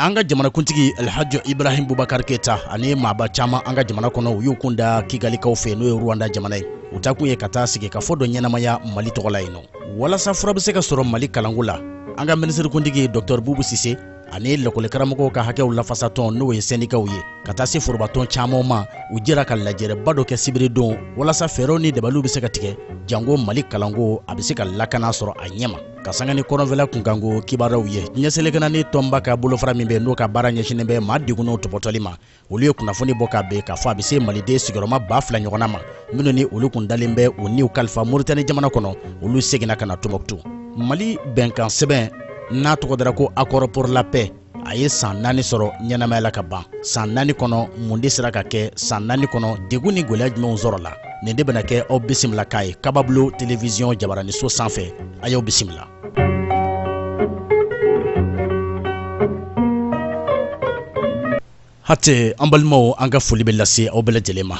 an ka jamanakuntigi alhaji ibrahim bubakar keyita ani maaba caman an ka jamana kɔnɔ u y'u kun da kigalikaw fɛ n'o ye rwanda jamana ye u taakun ye ka taa sigikafɔ dɔ ɲɛnamaya mali tɔgɔ la yen nɔ walasa fura bɛ se ka sɔrɔ mali kalanko la an ka minisirikuntigi dɔktɔr bubu sise ani lakɔlikaramɔgɔw ka hakɛw lafasatɔn n'o ye sɛndikaw ye ka taa se forobatɔn caman ma u jɛra ka lajɛrɛba dɔ kɛ sibiridon walasa fɛɛrɛw ni dabaliw bɛ se ka tigɛ janko mali kalanko a bɛ se ka lakana sɔrɔ a ɲɛma ka sanga ni kɔrɔnfɛla kunkanko kibaruyaw diɲɛ seleke naani tɔnba ka bolofara min bɛ n'o ka baara ɲɛsinnen bɛ maa degunnenw tɔpɔtɔli ma olu ye kunnafoni bɔ ka bɛn k'a fɔ a bɛ se maliden sigiyɔrɔma ba fila ɲɔgɔnna ma minnu ni olu kun dalen bɛ u niw kalifa moritani jamana kɔnɔ olu seginna ka na tɔmɔkutu mali bɛnkan sɛbɛn n'a tɔgɔ dara ko accord pour la paix a ye saan naani sɔrɔ ɲɛnamaya la ka ban saan naani kɔnɔ mun de sera ka kɛ saan naani kɔnɔ degun ni gwɛlɛya jumɛnw sɔrɔla nin de bɛna kɛ aw bisimilakan ye kababulo televiziyɔn jabaraniso sanfɛ a y'aw bisimila Hatɛ an balimaw an ka foli bɛ lase aw bɛɛ lajɛlen ma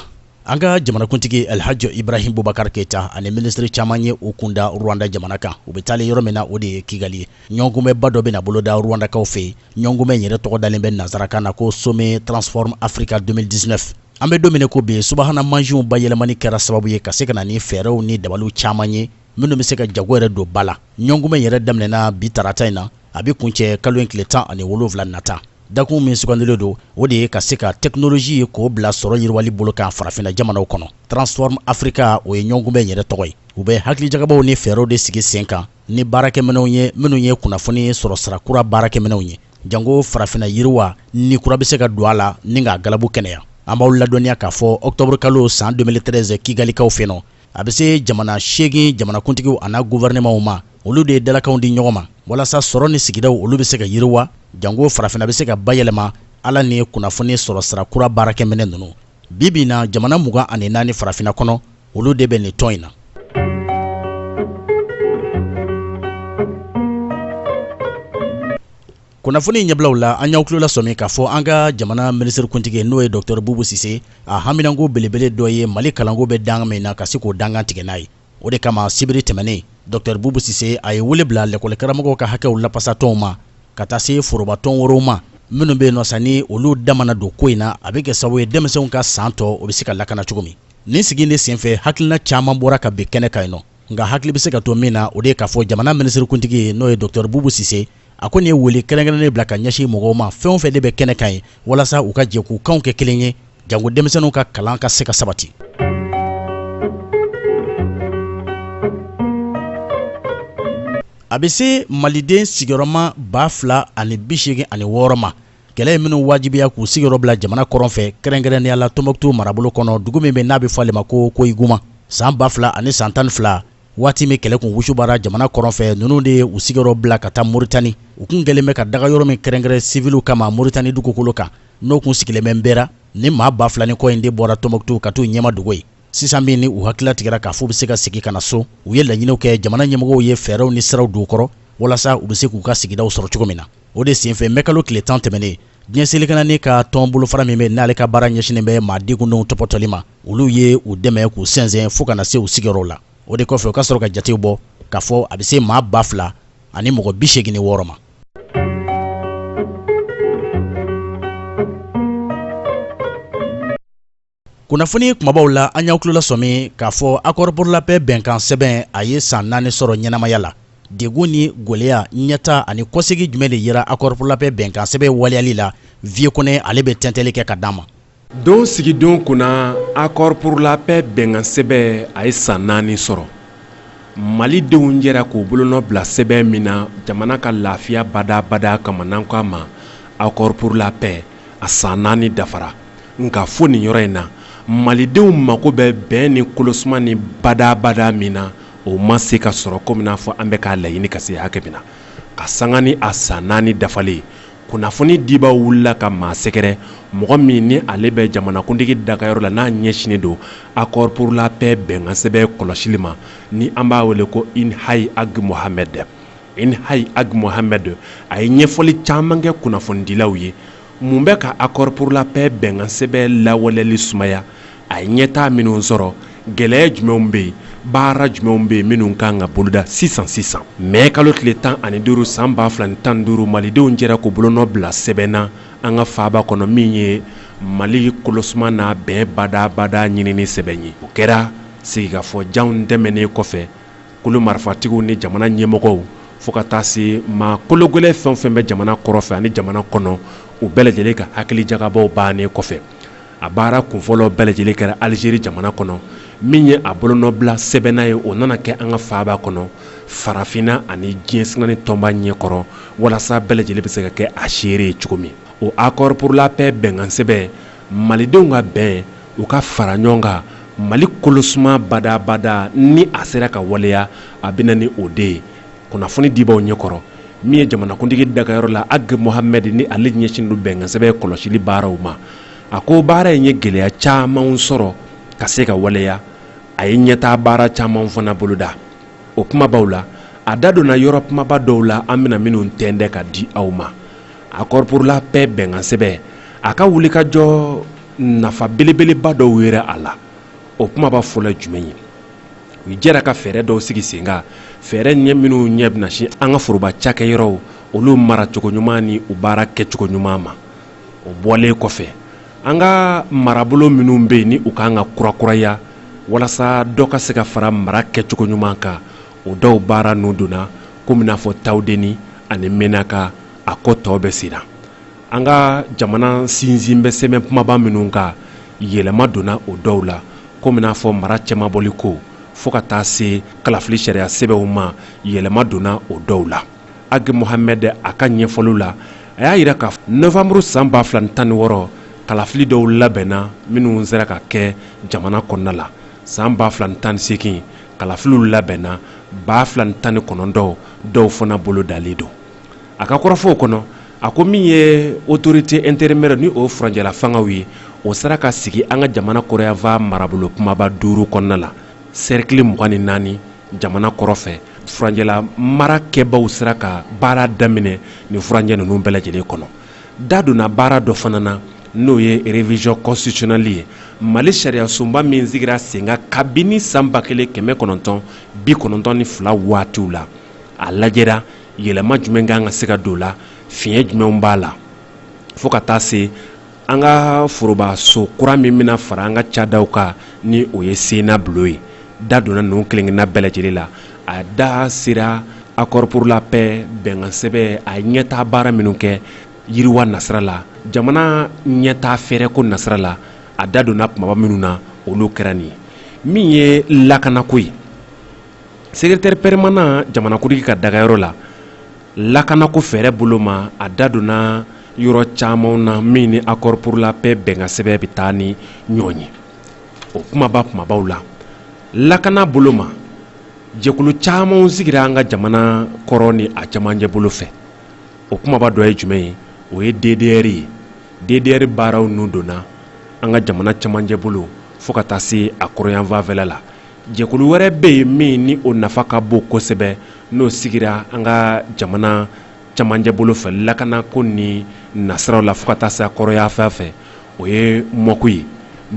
an ka jamanakuntigi alihaji ibrahim bubakari keyita ani minisiri caman ye u kun da rwanda jamana kan u bɛ taalen yɔrɔ min na o de ye kigali ye ɲɔnkunbɛba dɔ bɛna boloda rwandakaw fɛ yen ɲɔnkunbɛ in yɛrɛ tɔgɔ dalen bɛ nansarakan na ko sommet transform africa 2019 an bɛ don min na ko bi subahana mansinw bayɛlɛmani kɛra sababu ye ka se ka na ni fɛɛrɛw ni dabaliw caman ye minnu bɛ se ka jago yɛrɛ don ba la ɲɔnkunbɛ yɛrɛ daminɛna bi tarata in na a bɛ kuncɛ kalo in tile tan ani wolonwula nata dakun min sugandilen don o de ye ka se ka tɛkinoloji ye k'o bila sɔrɔ yiriwali bolo kan farafinna jamanaw kɔnɔ transform africa o ye ɲɔnkunbɛ yɛrɛ tɔgɔ ye u bɛ hakilijagabɔw ni fɛɛrɛw de sigi sen kan ni baarakɛminɛnw ye minnu ye kunnafoni sɔrɔ sira kura baarakɛminɛnw ye janko farafinna yiriwa ni kura bɛ se ka don a la ni k'a galabu kɛnɛya an b'aw ladɔnniya k'a fɔ ɔkutɔburukalo san 2013 kigalikaw fɛ nɔ a bɛ se jamana seegin jamanakuntigiw an'a guvɛrɛnɛmaw ma olu de ye dalakanw di ɲɔgɔn ma walasa sɔrɔ ni sigidaw olu bɛ se ka yiriwa janko farafina bɛ se ka bayɛlɛma ala ni kunnafoni sɔrɔ sira kura baarakɛminɛ ninnu bi bi in na jamana mugan ani naani farafina kɔnɔ olu de bɛ nin tɔn in na kunnafoni ɲɛbilaw la an y'aw tulolasɔmi k'a fɔ an ka jamana minisirikuntigi n'o ye dɔktɔr bubu sise a haminanko belebele dɔ ye mali kalanko bɛ dangan min na ka se k'o dangan tigɛ n'a ye o de kama sibiri tɛmɛnen dɔktɔr bubu sise a ye wele bila lɛkɔlikaramɔgɔw ka hakɛw lapasatɔnw ma ka taa se forobatɔn wɛrɛw ma minnu bɛ yen nɔ sa ni olu da mana don ko in na a bɛ kɛ sababu ye denmisɛnw ka saan tɔ o bɛ se ka lakana cogo min nin sigi in de senfɛ hakilina caman bɔra ka bin kɛnɛ kan yen nɔ nka hakili bɛ se ka to min na o de ye k'a fɔ jamana minisirikuntigi ye n'o ye dɔtɛri bubu sise a ko nin ye wele kɛrɛnkɛrɛnnen bila ka ɲɛsin mɔgɔw ma fɛn o fɛn de bɛ kɛnɛ kan ye walasa u ka jɛ k'u kanw kɛ kelen ye janko denmisɛnninw ka kalan ka se ka sabati a bɛ se maliden sigiyɔrɔma ba fila ani bi seegin ani wɔɔrɔ ma kɛlɛ ye minnu wajibiya k'u sigiyɔrɔ bila jamana kɔrɔn fɛ kɛrɛnkɛrɛnnenya la tɔnbɔkutu marabolo kɔnɔ dugu min bɛ n'a bɛ fɔ ale ma ko koyiguma san ba fila ani san tan ni fila waati min kɛlɛ kun wusubara jamana kɔrɔn fɛ ninnu de ye u sigiyɔrɔ bila ka taa moritani u kun kɛlen bɛ ka daga yɔrɔ min kɛrɛnkɛrɛn siviliw kama moritani dugukolo kan n'o kun sigilen bɛ nbera ni maa ba fila ni kɔ in de bɔra tɔnbɔkutu ka t'u ɲɛma dogo ye sisan min ni u hakili latigɛra k'a fɔ u bɛ se ka segin ka na so u ye laɲiniw kɛ jamana ɲɛmɔgɔw ye fɛɛrɛw ni siraw don u kɔrɔ walasa u bɛ se k'u ka sigidaw sɔrɔ cogo min na o de senfɛ mɛkalo tile tan tɛmɛnen diɲɛ seleke naani ka tɔn bolofara min bɛ n'ale ka baara ɲɛsinnen bɛ maa degunnenw tɔpɔtɔli ma olu ye u dɛmɛ k'u sɛnsɛn fo ka na se u sigiyɔrɔw la o de kɔfɛ u ka sɔrɔ ka jatew bɔ k'a fɔ a bɛ se maa ba fila ani mɔgɔ bi seegin ni wɔɔrɔ ma kunnafoni kumabaw la an y'aw tulo lasɔmi k'a fɔ accord pour la paix bɛnkan sɛbɛn a ye san naani sɔrɔ ɲɛnamaya la degun ni gwɛlɛya ɲɛtaa ani kɔsegi jumɛn de yera accord pour la paix bɛnkan sɛbɛn waleyali la viye kɔnɛ ale bɛ tɛntɛli kɛ ka d'an ma don sigidon kunna accord pour la paix bɛnkan sɛbɛn a ye san naani sɔrɔ malidenw jɛra k'u bolonɔ bila sɛbɛn min na jamana ka lafiya badaa badaa kama n'an k'a ma accord pour la paix a san naani dafara nka fo nin yɔrɔ in na malidenw mago bɛ bɛn ni kolosuma ni badaa badaa min na o ma se ka sɔrɔ komi n'a fɔ an bɛ k'a laɲini ka se hakɛ min na ka sanga ni a san naani dafalen ye kunnafoni dibaa wulila ka maa sɛgɛrɛ mɔgɔ min ni ale bɛ jamanakuntigi dagayɔrɔ la n'a ɲɛsinnen don accord pour la paix bɛnkan sɛbɛn kɔlɔsili ma ni an b'a wele ko inhayi ag mohamed inhayi ag mohamed a ye ɲɛfɔli caman kɛ kunnafonidilaw ye mun bɛ ka accord pour la paix bɛnkan sɛbɛn lawaleyali sumaya a ye ɲɛtaa minnu sɔrɔ gɛlɛya jumɛnw bɛ yen baara jumɛnw bɛ yen minnu ka kan ka boloda sisan sisan mɛ kalo tile tan ani duuru san ba fila ni tan ni duuru malidenw jɛra k'u bolonɔ bila sɛbɛn na an ka faaba kɔnɔ min ye mali kolosuma n'a bɛn badaa badaa ɲinini sɛbɛn ye o kɛra sigikafɔ janw tɛmɛnnen kɔfɛ kulu marifatigiw ni jamana ɲɛmɔgɔw fo ka taa se maa kologɛlɛn fɛn fɛn bɛ jamana kɔrɔn fɛ ani jamana kɔnɔ u bɛɛ lajɛlen ka hakilijagabɔ bannen kɔfɛ a baara kunfɔlɔ bɛɛ lajɛlen kɛra alizeri jamana kɔnɔ min ye a bolonɔbila sɛbɛn na ye o nana kɛ an ka faaba kɔnɔ farafinna ani diɲɛ seleke naani tɔnba ɲɛkɔrɔ walasa bɛɛ lajɛlen bɛ se ka kɛ a seere ye cogo min o accord pour la paix bɛnkan sɛbɛn malidenw ka bɛn u ka fara ɲɔgɔn kan mali kolosuma badabada ni a sera ka waleya a bɛ na ni o de ye kunnafoni dibaw ɲɛkɔrɔ min ye jamanakuntigi dagayɔrɔ la ag mohamɛd ni ale ɲɛsin don bɛnkansɛbɛ kɔlɔsili baaraw ma a ko baara in ye gɛlɛya camanw sɔrɔ ka se ka waleya a ye ɲɛtaa baara camanw fana boloda o kumabaw la a da donna yɔrɔ kumaba dɔw la an bɛna minnu tɛndɛ ka di aw ma accord pour la paix bɛnkansɛbɛ a ka wulikajɔ nafa belebeleba dɔw yera a la o kumaba fɔlɔ jumɛn ye u jɛra ka fɛɛrɛ dɔw sigi sen kan fɛɛrɛ ɲɛ minnu ɲɛ bɛna sin an ka foroba cakɛyɔrɔw olu mara cogo ɲuman ni u baara kɛcogo ɲuman ma o bɔlen kɔfɛ an ka marabolo minnu bɛ yen ni u kan ka kurakuraya walasa dɔ ka se ka fara mara kɛcogo ɲuman kan o dɔw baara nun donna komi n'a fɔ tawudeni ani menaka a ko tɔ bɛ senna an ka jamana sinsin bɛ sɛbɛ kumaba minnu kan yɛlɛma donna o dɔw la komi n'a fɔ mara cɛmabɔli ko fo ka taa se kalafili sariya sɛbɛw ma yɛlɛma donna o dɔw la ag mohamɛd a ka ɲɛfɔliw la a y'a yira ka novanburu san ba fila ni tan ni wɔɔrɔ kalafili dɔw labɛnna minnu sera ka kɛ jamana kɔnɔna la san ba fila ni tan ni seegin kalafiliw labɛnna ba fila ni tan ni kɔnɔntɔn dɔw fana bolo dalen don a ka kɔrɔfɔw kɔnɔ a ko min ye autorité intérimaire ni o furanjɛla fangaw ye o sera ka sigi an ka jamana kɔrɔyanfan marabolo kumaba duuru kɔnɔna la sɛrikili mugan ni naani jamana kɔrɔ fɛ furanjɛla mara kɛbaw sera ka baara daminɛ nin furanjɛ ninnu bɛɛ lajɛlen kɔnɔ da donna baara dɔ fana na n'o ye révision constitutionnelle ye mali sariyasunba min sigira sen kan kabini san ba kelen kɛmɛ kɔnɔntɔn bi kɔnɔntɔn ni fila waatiw la a lajɛra yɛlɛma jumɛn kan ka se ka don a la fiɲɛ jumɛnw b'a la fo ka taa se an ka forobaso kura min bɛna fara an ka cadaw kan ni o ye sena bulo ye da donna ninnu kelen-kelenna bɛɛ lajɛlen la a da sera accord pour la paix bɛnkansɛbɛ a ɲɛtaa baara minnu kɛ yiriwa nasira la jamana ɲɛtaa fɛɛrɛ ko nasira la a da donna kumaba minnu na olu kɛra nin ye min ye lakanako ye secrétaire permanent jamanakuntigi ka dagayɔrɔ la lakanako fɛɛrɛ bolo ma a da donna yɔrɔ camanw na min ni accord pour la paix bɛnkansɛbɛ bɛ taa ni ɲɔgɔn ye o kumaba kumabaw la lakana bolo ma jɛkulu camanw sigira an ka jamana kɔrɔ ni a camancɛ bolo fɛ o kumaba dɔ ye jumɛn ye o ye ddr ye ddr baaraw nun donna an ka jamana camancɛ bolo fo ka taa se a kɔrɔyanfanfɛla la jɛkulu wɛrɛ bɛ yen min ni o nafa ka bon kosɛbɛ n'o sigira an ka jamana cɛmanjɛ bolo fɛ lakanako ni nasiraw la fɔɔ ka taa se a kɔrɔyanfan fɛ o ye mɔku ye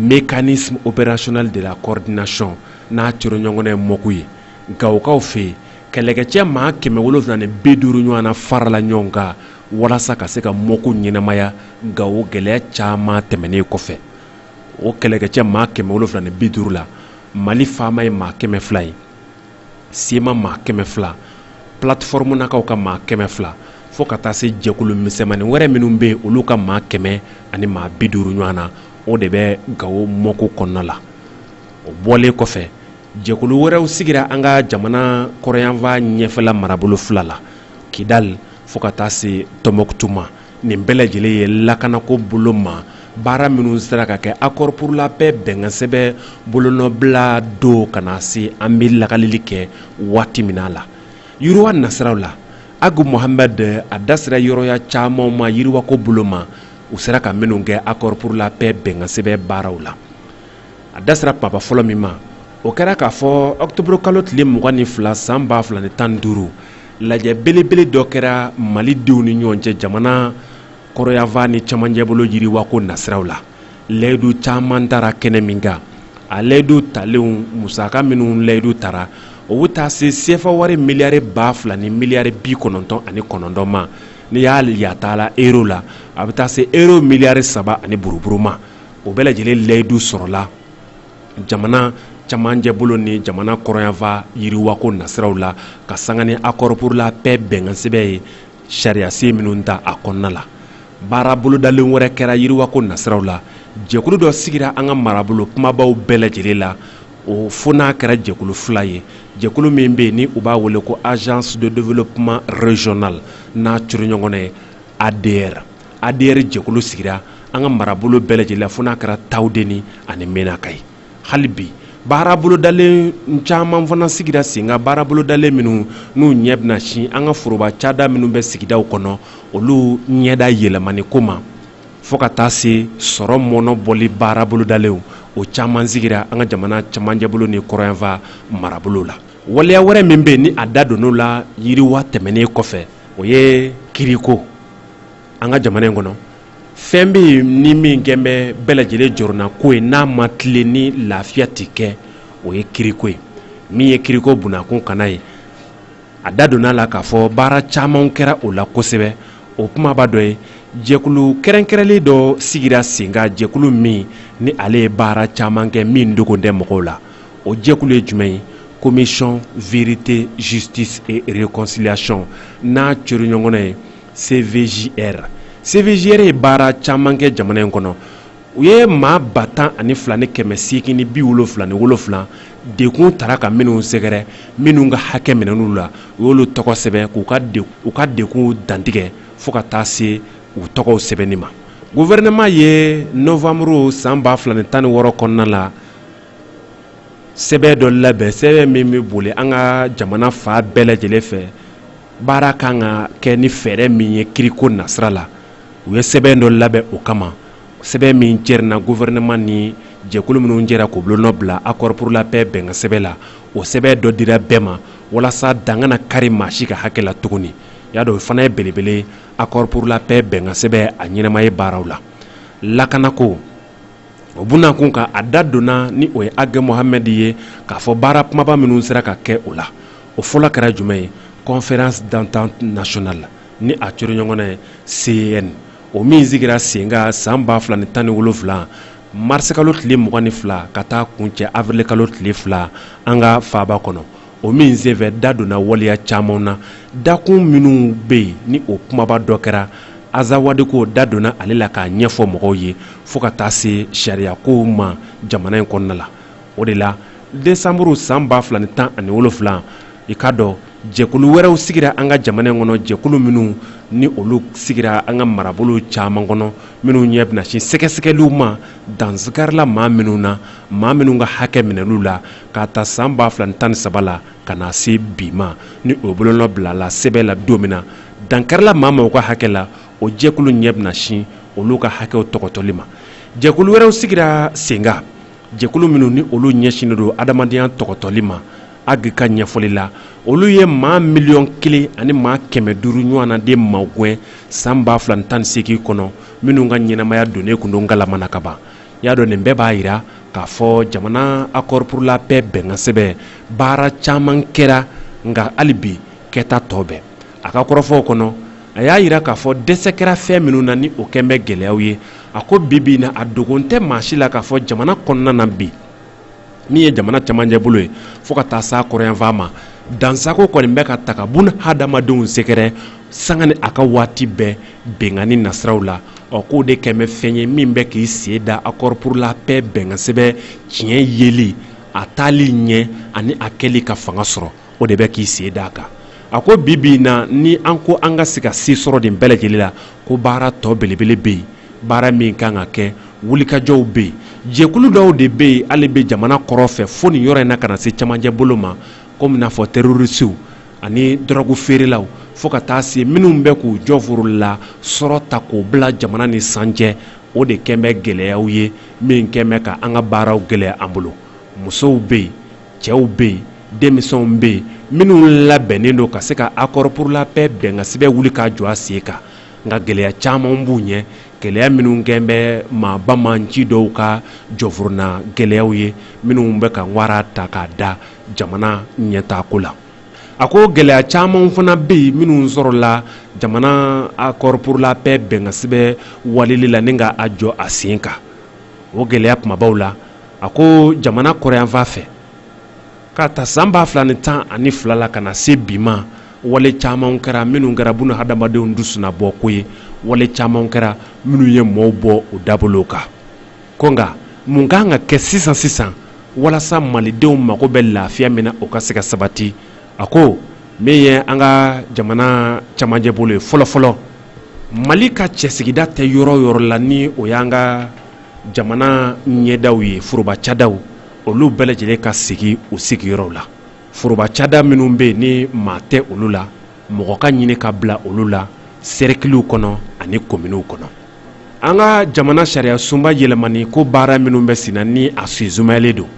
mécanisme opérationnel de la coordination n'a curu ɲɔgɔn ye mɔku ye gawokaw fɛ yen kɛlɛkɛcɛ maa kɛmɛ wolonwula ni bi duuru ɲɔgɔn na farala ɲɔgɔn kan walasa ka se ka mɔku ɲɛnamaya gawo gɛlɛya caman tɛmɛnen kɔfɛ o kɛlɛkɛcɛ maa kɛmɛ wolonwula ni bi duuru la mali faama ye maa kɛmɛ fila ye cma maa kɛmɛ fila platfɔrmunakaw ka maa kɛmɛ fila fɔɔ ka taa se jɛkulu misɛmani wɛrɛ minnu bɛ yen olu ka maa kɛmɛ ani maa bi duuru ɲɔgɔn na o de bɛ gawo mɔku kɔnɔna la o bɔlen kɔfɛ jɛkulu wɛrɛw sigira an ka jamana kɔrɔyanfa ɲɛfɛla marabolo fila la kidal fɔɔ ka taa se tɔmɔkutu ma nin bɛɛ lajɛlen ye lakanako bolo ma baara minnu sera ka kɛ accord pour la paix bɛnkansɛbɛ bolonɔbila don ka na se an bɛ lakalili kɛ waati min a la yiriwa nasiraw la ag mohamɛd a da sera yɔrɔya camanw ma yiriwako bolo ma u sera ka minnu kɛ accord pour la paix bɛnkansɛbɛ baaraw la a da sera papa fɔlɔ min ma o kɛra k'a fɔ ɔkutoburu kalo tile mugan ni fila san ba fila ni tan ni duuru lajɛ belebele dɔ kɛra mali denw ni ɲɔgɔn cɛ jamana kɔrɔyanfan ni cɛmanjɛbolo yiriwako nasiraw la layidu caman tara kɛnɛ min kan a layidu talenw musaka minnu layidu tara o bɛ taa se sefa wari miliyari ba fila ni miliyari bi kɔnɔntɔn ani kɔnɔntɔn ma n'i y'a yataala euro la a bɛ taa se euro miliyari saba ani buruburu ma o bɛɛ lajɛlen layidu sɔrɔla jamana camancɛ bolo ni jamana kɔrɔnyanfa yiriwako nasiraw la ka sanga ni accord pour la paix bɛnkansɛbɛ ye sariyasen minnu ta a kɔnɔna la baara bolodalen wɛrɛ kɛra yiriwako nasiraw la jɛkulu dɔ sigira an ka marabolo kumabaw bɛɛ lajɛlen la o fo n'a kɛra jɛkulu fila ye jɛkulu min bɛ yen ni u b'a wele ko agence de développement régional n'a curu ɲɔgɔn ye adr adr jɛkulu sigira an ka marabolo bɛɛ lajɛlen la fo n'a kɛra tawudeni ani menaka ye hali bi baarabolodalen caman fana sigira sen kan baarabolodalen minnu n'u ɲɛ bɛna sin an ka foroba cada minnu bɛ sigidaw kɔnɔ olu ɲɛda yɛlɛmani ko ma fɔɔ ka taa se sɔrɔ mɔnɔbɔli baarabolodalenw o caman sigira an ka jamana camanjɛbolo ni kɔrɔyanfa marabolo la waleya wɛrɛ min bɛ yen ni a da donna o la yiriwa tɛmɛnen kɔfɛ o ye kiriko an ka jamana in kɔnɔ fɛn bɛ yen ni min kɛlen bɛ bɛɛ lajɛlen jɔrɔnako ye n'a ma tilen ni lafiya tɛ kɛ o ye kiriko ye min ye kiriko bunnakun kana ye a da donna a la k'a fɔ baara caman kɛra o la kosɛbɛ o kumaba dɔ ye jɛkulu kɛrɛnkɛrɛnnen dɔ sigira sen kan jɛkulu min ni ale ye baara caman kɛ min dogolen tɛ mɔgɔw la o jɛkulu ye jumɛn ye commission vérité justice et réconciliation n'a cori ɲɔgɔnna ye cvjr cvjr ye baara caman kɛ jamana in kɔnɔ u ye maa ba tan ani fila ni kɛmɛ seegin ni bi wolonfila ni wolonfila degun taara ka minnu sɛgɛrɛ minnu ka hakɛ minɛn'u la u y'olu tɔgɔ sɛbɛn k'u ka degunw dantigɛ fo ka taa se u tɔgɔw sɛbɛnni ma guvɛrɛnɛman ye nɔwanburu san ba fila ni tan ni wɔɔrɔ kɔnɔna la sɛbɛn dɔ labɛn sɛbɛn min bɛ boli an ka jamana fan bɛɛ lajɛlen fɛ baara kan ka kɛ ni fɛɛrɛ min ye kiriko nasira la u ye sɛbɛn dɔ labɛn o kama sɛbɛn min jɛrina gofɛrɛnaman ni jɛkulu minnu jɛra k'u bolonɔ bila accord pour la paix bɛnkan sɛbɛn la o sɛbɛn dɔ dira bɛɛ ma walasa dan kana kari maa si ka hakɛ la tuguni y'a dɔn o fana ye belebele accord pour la paix bɛnkan sɛbɛn a ɲɛnamaya baaraw la lakanako o bunakun kan a da donna ni o ye ag mohamed ye k'a fɔ baara kumaba minnu sera ka kɛ o la o fɔlɔ kɛra jumɛn ye conférence d'entente nationale ni a cori ɲɔgɔn ye cen o min sigira senkan san ba fila ni tan ni wolonfila marisikalo tile mugan ni fila ka taa kuncɛ awirilikalo tile fila an ka faaba kɔnɔ o min senfɛ da donna waleya caman na dakun minnu bɛ yen ni o kumaba dɔ kɛra azawadiko da donna ale la k'a ɲɛfɔ mɔgɔw ye fo ka taa se sariyakow ma jamana in kɔnɔna la o de la desanburu san ba fila ni tan ani wolonfila i k'a dɔn jɛkulu wɛrɛw sigira an ka jamana in kɔnɔ jɛkulu minnu ni olu sigira an ka marabolo caman kɔnɔ minnu ɲɛ bɛna sin sɛgɛsɛgɛliw ma dansigarila maa minnu na maa minnu ka hakɛ minɛn'u la k'a ta san ba fila tan ni saba la ka na se bi ma ni o bolonɔ bilala sɛbɛn la don min na dankarila maa o maa ka hakɛ la o jɛkulu ɲɛ bɛna sin olu ka hakɛw tɔgɔtɔli ma jɛkulu wɛrɛw sigira senkan jɛkulu minnu ni olu ɲɛsinnen don hadamadenya tɔgɔtɔli ma ag ka ɲɛfɔli la olu ye maa miliyɔn kelen ani maa kɛmɛ duuru ɲɔgɔnna de magɛn san ba fila tan ni seegin kɔnɔ minnu ka ɲɛnamaya donnen tun don galamana ka ban i y'a dɔn nin bɛɛ b'a yira k'a fɔ jamana accord pour la paix bɛnkansɛbɛn baara caman kɛra nka hali bi kɛta tɔ bɛ yen a ka kɔrɔfɔw kɔnɔ a y'a yira k'a fɔ dɛsɛ kɛra fɛn minnu na ni o kɛn bɛ gɛlɛyaw ye a ko bi bi in na a dogon tɛ maa si la k'a fɔ jamana kɔnɔna na bi min ye jamana cɛmancɛ bolo ye fo ka taa s'a kɔrɔnyanfan ma dansagon kɔni bɛ ka taa ka bunadamadenw sɛgɛrɛ sanga ni a ka waati bɛɛ binkanni nasiraw la ɔ k'o de kɛn bɛ fɛn ye min bɛ k'i sen da accord pour la paix bɛnkansɛbɛn tiɲɛyali a taali ɲɛ ani a kɛli ka fanga sɔrɔ o de bɛ k'i sen da a kan a ko bi bi in na ni an ko an ka se ka se sɔrɔ nin bɛɛ lajɛlen la ko baara tɔ belebele bɛ yen baara min kan ka kɛ wulikajɔw bɛ yen jɛkulu dɔw de bɛ yen ale bɛ jamana kɔrɔn fɛ fo nin yɔrɔ in na ka na se camancɛ bolo ma komi n'a fɔ terorisiw ani dɔrɔgu feerelaw fo ka taa se minnu bɛ k'u jɔnforo la sɔrɔ ta k'o bila jamana ni san cɛ o de kɛlen bɛ gɛlɛyaw ye min kɛlen bɛ ka an ka baaraw gɛlɛya an bolo musow bɛ yen cɛw bɛ yen denmisɛnw bɛ yen minnu labɛnnen don ka se ka accord pour la paix bɛnkansɛbɛn wuli k'a jɔ a sen kan nka gɛlɛya caman b'u ɲɛ gɛlɛya minnu kɛn bɛ maa banbaanci dɔw ka jɔnforona gɛlɛyaw ye minnu bɛ ka wara ta k'a da jamana ɲɛtaako la a ko gɛlɛya caman fana bɛ yen minnu sɔrɔla jamana accord pour la paix bɛnkansɛbɛn wulili la ni ka a jɔ a sen kan o gɛlɛya kumabaw la a ko jamana kɔrɔnyanfan fɛ k'a ta san ba fila ni tan ani fila la ka na se bi ma wale caman kɛra minnu kɛra buna hadamadenw dusuna bɔ ko ye wale caman kɛra minnu ye mɔɔw bɔ u dabolo kan ko nka mun ka kan ka kɛ sisan sisan walasa malidenw mago bɛ lafiya min na o ka se ka sabati a ko min ye an ka jamana camancɛ bolo ye fɔlɔfɔlɔ mali ka cɛsigida tɛ yɔrɔ yɔrɔ la ni o y'an ka jamana ɲɛdaw ye foroba cadaw olu bɛɛ lajɛlen ka segin u sigiyɔrɔw la foroba cada minnu bɛ yen ni maa tɛ olu la mɔgɔ ka ɲini ka bila olu la sɛrikiliw kɔnɔ ani kominiw kɔnɔ an ka jamana sariya sunba yɛlɛmani ko baara minnu bɛ senna ni a sen sumayalen don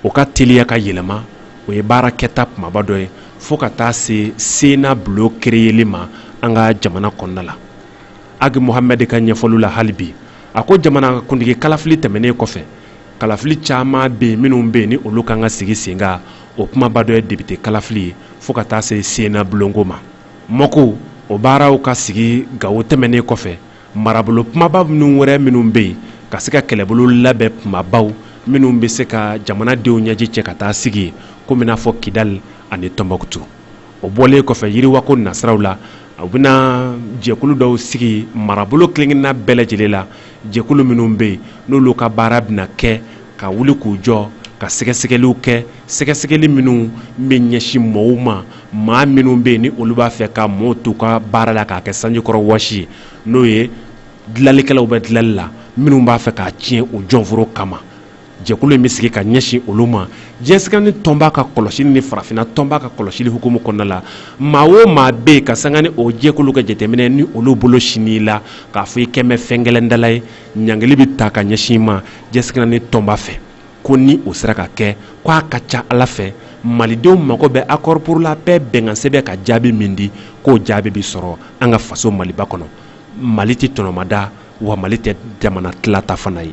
o ka teliya ka yɛlɛma o ye baara kɛta kumaba dɔ ye fo ka taa se sena bulon kereyeli ma an ka jamana kɔnɔna la Agi Mohamɛdi ka ɲɛfɔliw la hali bi, a ko jamanakuntigi kalafili tɛmɛnen kɔfɛ, kalafili caman bɛ yen minnu bɛ yen ni olu ka kan ka sigi sen kan, o kumaba dɔ ye depite kalafili ye fo ka taa se Sena bulonko ma. MOC, o baaraw ka sigi Gawo tɛmɛnen kɔfɛ, marabolo kumaba minnu wɛrɛ minnu bɛ yen ka se ka kɛlɛbolo labɛn kumabaw minnu bɛ se ka jamana denw ɲɛji cɛ ka taa sigi yen, komi i n'a fɔ Kidali ani Tɔnbɔkutu. o bɔlen kɔfɛ yiriwa ko nasiraw la u bɛna jɛkulu dɔw sigi marabolo kelenkelenna bɛɛ lajɛlen la jɛkulu minnu bɛ yen n'olu ka baara bɛna kɛ ka wuli k'u jɔ ka sɛgɛsɛgɛliw kɛ sɛgɛsɛgɛli minnu bɛ ɲɛsin mɔgɔw ma maa minnu bɛ yen ni olu b'a fɛ ka mɔɔ tɔw ka baara la k'a kɛ sanjikɔrɔ wɔsi ye n'o ye dilanlikɛlaw bɛ dilanli la minnu b'a fɛ k'a tiɲɛ u jɔnforo kama jɛkulu in bɛ sigi ka ɲɛsin olu ma diɲɛ seleke naani tɔnba ka kɔlɔsili ni farafinna tɔnba ka kɔlɔsili hukumu kɔnɔna la maa o maa bɛ yen ka sanga ni o jɛkulu ka jateminɛ ni olu bolo sin'i la k'a fɔ i kɛlen bɛ fɛn gɛlɛndala ye ɲangili bɛ ta ka ɲɛsin i ma diɲɛ seleke naani tɔnba fɛ ko ni o sera ka kɛ ko a ka ca ala fɛ malidenw mago bɛ accord pour la paix bɛnkansɛbɛn ka jaabi min di k'o jaabi bɛ sɔrɔ an ka faso maliba kɔnɔ mali tɛ tɔnɔmada wa mali tɛ jamana tilata fana ye